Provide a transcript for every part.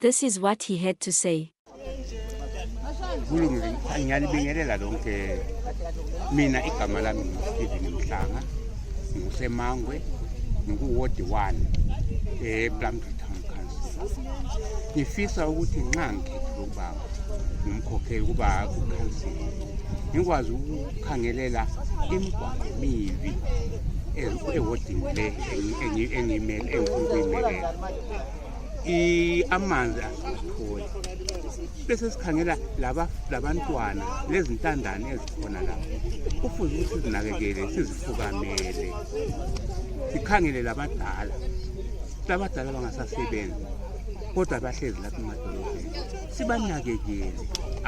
This is what he had to say. ngifisa ukuthi nxa ngikhethe ubaba ngimkhokhele ukuba kukhansile ngikwazi ukukhangelela imigwaqo mibi ewodini le engifuna ukuyimelela amanzi asitholi bese sikhangela labantwana lezintandane ezikhona lapho kufuze ukuthi sizinakekele sizifukamele sikhangele labadala labadala bangasasebenzi kodwa bahlezi lapha emadolobheni sibanakekele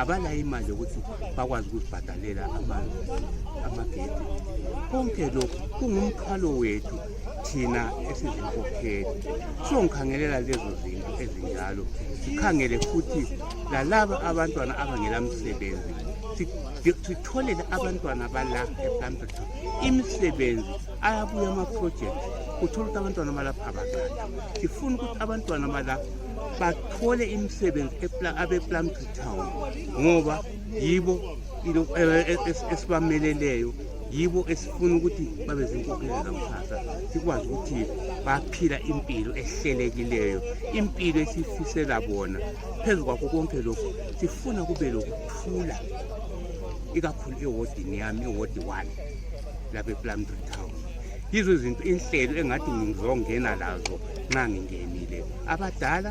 abalayo imali yokuthi bakwazi ukuzibhadalela amanzi amagedi konke lokhu kungumkhalo wethu thina esizinkokheli siyongikhangelela lezo zinto ezinjalo sikhangele futhi lalaba abantwana abangela msebenzi sitholele abantwana bala eplantata imisebenzi ayabuya amaprojekti uthole ukuthi abantwana balapha abaqatha sifuna ukuthi abantwana balapha bathole imisebenzi abeplantatown ngoba yibo e, e, e, esibameleleyo yibo esifuna ukuthi babe zinkokheli zakusasa sikwazi ukuthi baphila impilo ehlelekileyo impilo esifisela bona phezu kwakho konke lokhu sifuna kube lokuthula ikakhulu ewodini yami ewodi one lapha eplumtree town yizo izinto inhlelo engathi ngizongena lazo nxa ngingenile abadala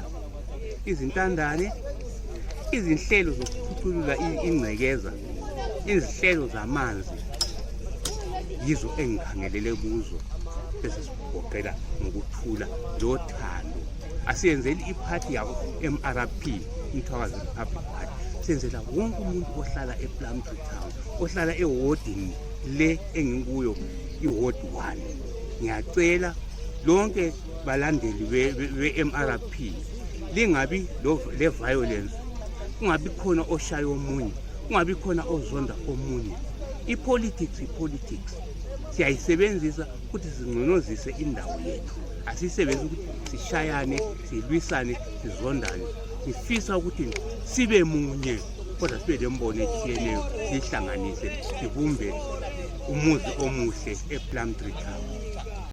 izintandane izinhlelo zokuphuculula ingcekeza izihlelo zamanzi yizo engikhangelele kuzo ezisigoqela ngokuthula njengothando asiyenzeli iphathi yabo mrp umthwakazi republic party senzela wonke umuntu ohlala eplamtry town ohlala ewodini le engikuyo iwodi one ngiyacela lonke balandeli be-mrp lingabi le-violence kungabi khona oshaya omunye kungabi khona ozonda omunye ipolitics ipolitics siyayisebenzisa ukuthi singconozise indawo yethu asisebenzi ukuthi sishayane silwisane sizondane sifisa ukuthi sibe munye kodwa sibe lembono etshiyeneyo siyihlanganise sibumbe umuzi omuhle eplum tree town